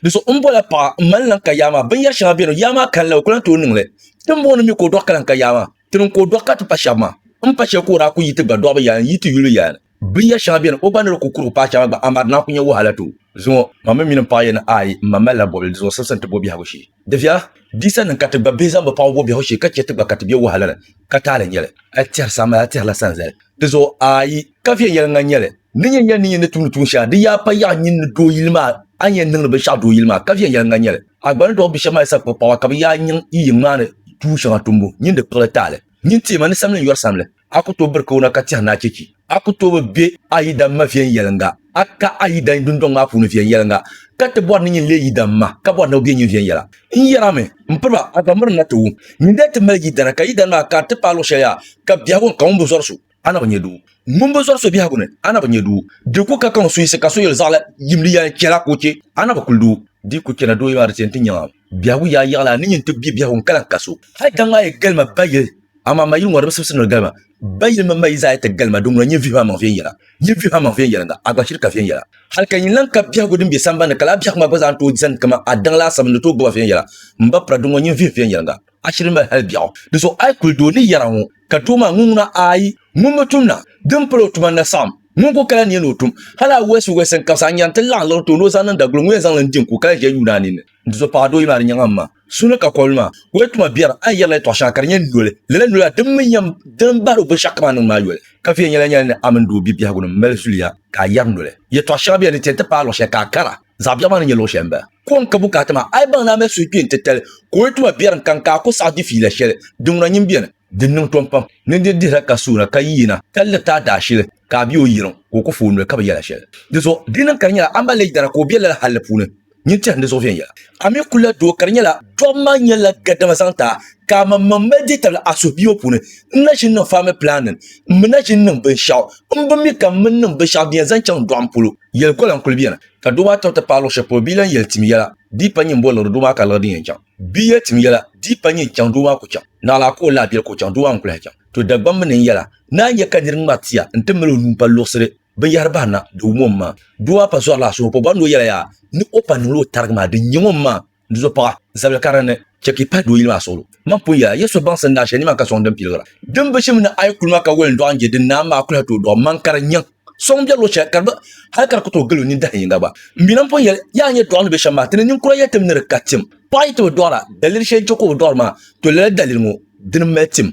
Di so n bola paɣa n mali lan ka yaa maa binyɛri shɛŋa beni yaa maa kalinli o ku lan tooi niŋli ti m booni mi ka o dɔɣi ka lan ka yaa maa ti niŋ ka o dɔɣi ka ti pa shɛba maa m pa shɛli ka o daa ku yi ti gba dɔɣibu yaa n yi ti yuli yaa ni binyɛri shɛŋa beni o gba ni di ku kurigu paai shɛŋa gba amaa di lan ku nyɛ wahala too zuŋɔ ma mi mini m paɣa yɛn ni aai m ma malila bɔbili di zuɣu simsim ti bo biɛhigu shee. Dabiya bisa ni ka ti gba bihi zaŋ bi paŋ wuhi biɛhigu shee ka chɛ ti gba ka ti be wahala ni, ka taali nyɛli. A tɛhiri saha mali a tɛhirila sanzali. Di zuɣu ayi, ka viɛnyɛliŋga nyɛli. Ni nyɛ yɛli ni nyini ni tumdi tuun shɛŋa, di yaa pa yaɣi nyini ni doo yili maa, a ni yɛn niŋdi binshɛɣu doo yili maa, ka viɛnyɛliŋga nyɛli. A gba ni dɔɣi bi shɛba maa yi sa kpuɣi paɣaba ka bi yaa niŋ yi yiŋ maa ni tuun shɛŋa tumbu, nyini di kpiɣili taali. Nyini teema ni samli n-yɔri samli. a ku tooi biri kawana ka tɛhi ni a chechi. A ku tooi bi be a yidana ma viɛnyɛliŋga. A ka a yidana dundɔŋ maa puuni viɛnyɛliŋga, ka ti bɔri ni nyin leei yidana ma, ka bɔri ni o be nyin viɛnyɛla. N yɛrami, m piriba, a zaŋ miri na ti wum. Nyin daa ti mali yidana, ka yidana maa kari ti paai luɣ shɛli yaha, ka biɛhigu ni ka ŋun bi zɔri so, a na bi nya doo. Ŋun bi zɔri so biɛhigu ni, a na bi nya doo. Di ku ka kaŋ suhisi ka so yɛli zaɣila yimli yɛla chɛla ka o che, a na bi kuli doo. Di ku chana dooyima di ti yɛn ti nyaŋ a. Biɛhigu yaa yiɣi la ni nyin ti bi biɛhigu n-kala ka so. Hal ka ŋmaa yi gali ma ba yili, amaa ma yili ŋɔ di bi sibisi ni di gali ma. Ba yili mini ma yi zaa yi ti gali ma, di ŋuna nyin vihibu a maŋ viɛnyɛla. Nyin vihibu a maŋ viɛnyɛliŋga, a gba shiri ka viɛnyɛla. Hal ka nyin lan ka biɛhigu din be sambani ni, ka lala biɛhigu maa gba zaa ni tooi zani kaman a daŋ laasabu ni di tooi gbiba viɛnyɛla. M ba Pura, di ŋuna nyin vihibu viɛnyɛliŋga. A shiri m-mali hal biɛɣu. Di zuɣu a yi kuli di o ni yɛra ŋɔ, Ka too maa, ŋun ŋuna ayi ŋun bi tum na, din pal o tuma ni na saɣim ŋun ku kala nia ni o tum hal a wɛsi wɛsi n-kabisi, a ni yɛn ti laɣim liɣiri tooni o zaŋ niŋ daguli ŋun yɛn zaŋ li n-di n-ku kala ʒiɛl yuun a ninni. Di zuɣu paɣa doo yi maani nyaŋ a ma, su ni ka kɔbili maa, o yɛn tuma biɛri, a ni yɛrila yɛtɔɣ shɛŋa ka di nyɛ noli, lala noli la din mi yɛn din bahiri o binshɛɣu kam a niŋdi maa yoli. Ka viɛnyɛla nyɛla ni a mini doo bibiɛhigu ni mali zuliya ka a yɛri noli. Yɛtɔɣ shɛŋa bela ni ti yɛn ti paai luɣ shɛli ka a kara. Zaɣ biɛɣu maa ni nyɛ luɣ shɛli m-bala. Kɔŋ ka bukaata maa, a yi baŋ ni a mali suhukpeeni titali ka o yi tuma biɛrim kam ka a ku saɣi di fiila shɛli, di ŋuna nyin beni. Di niŋ tom pam ni di dihira ka suuna ka yiina ka liriti a daashili ka a be o yiriŋ ka o ku fa o noli ka bi yɛl a shɛli. Di zuɣu di niŋ ka di nyɛla a mali leei dana ka o be lala hal li puuni. Nyin tɛhim di zuɣu viɛnyɛla. A mi ku la doo ka di nyɛla dɔɣim maa nyɛla gadama zaŋ ti a ka aman maŋ mali deei tabili a suhubia ŋɔ puuni. N na ʒini niŋ family planning. M mi na ʒini niŋ binshɛɣu m bi mi ka m mi niŋ binshɛɣu din yɛn zaŋ chaŋ dɔɣim polo. Yɛli kola n kuli bɛni ka doo maa tibiti paai luɣ shɛli polo bɛ yi lan yɛli tim yɛla di yi pa nyin boli liɣiri doo maa ka liɣiri din yɛn chaŋ bɛ yi yɛli tim yɛla di yi pa nyin chaŋ doo maa ku chaŋ naɣilaa ka o lahi bɛli ka o chaŋ doo maa ŋun kuli lahi chaŋ to Dagbamb ni n yɛla ni a nya ka nir ŋmari tia n-ti mali o nuu pa luɣisiri binyɛhiri bahi na di wum o m-ma doo maa pa zɔri la suhuri polo bɔri ni o yɛla yaa ni o pa niŋla o tarigi maa din nyaŋ o m-ma Dizuɣu paɣa, zabili karili ni, chɛ ka yi pahi dooyili maa suɣulo. Man pun yɛla, Yesu baŋsim ni a shɛli nima ka sɔŋ din piligira. Din bi shim ni a yi kuli ma ka woli n-dɔɣi n-je, di naam maa kuli ha tooi dɔɣi man ka di nyaŋ sɔŋ biɛri luɣ shɛli ka di bi hali ka di ku tooi gili o nini dahin yiŋga gba. M mi lan pun yɛli, Yaa nyɛ dɔɣi ni be shɛm maa, ti ni ninkura yɛli tim ni di ka tim. Paɣa yi ti bi dɔɣira, daliri shɛli n-chɛ ka o bi dɔɣiri maa, to lala daliri ŋɔ, dini m-mali tim.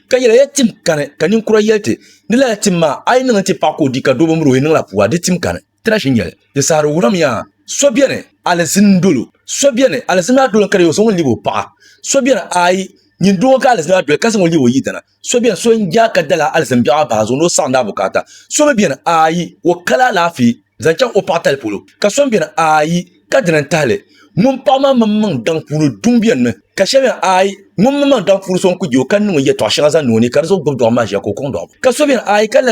Ka yɛla, Ya tim kani, ka ninkura yɛli ti, Di lala tim maa, a yi niŋ n-ti paɣa ka o di ka doo bi miri o, yi niŋla pua, di tim kani. Tira ʒi nyɛli, di saɣiri wurim ya, So beni, alizini dolo, so beni, alizini maa dolo ka di yi o, zaŋ o lib o paɣa. So beni, aai, nyin doo ŋɔ ka alizini maa doli ka zaŋ o lib o yidana. So beni, so n-jaa ka dala alizini biɛɣu maa bahi zuɣu ni o saɣindi a bukaata. So mi beni, aai, o kala alaafee zaŋ chaŋ o paɣa tali polo. Ka so mi beni, aai, ka dina n-tahi li, ŋun paɣa maa mini maŋ daŋ puuni duŋ beni mi. Ka shɛli beni, aai, ŋun mini maŋ daŋ puuni so n-kul je o ka niŋ o yɛtɔɣ shɛŋa zaŋ niŋ o ni ka di zuɣu gbibi dɔɣim maa ʒiya ka o kɔŋ dɔɣim. Ka so beni, aai, ka lala.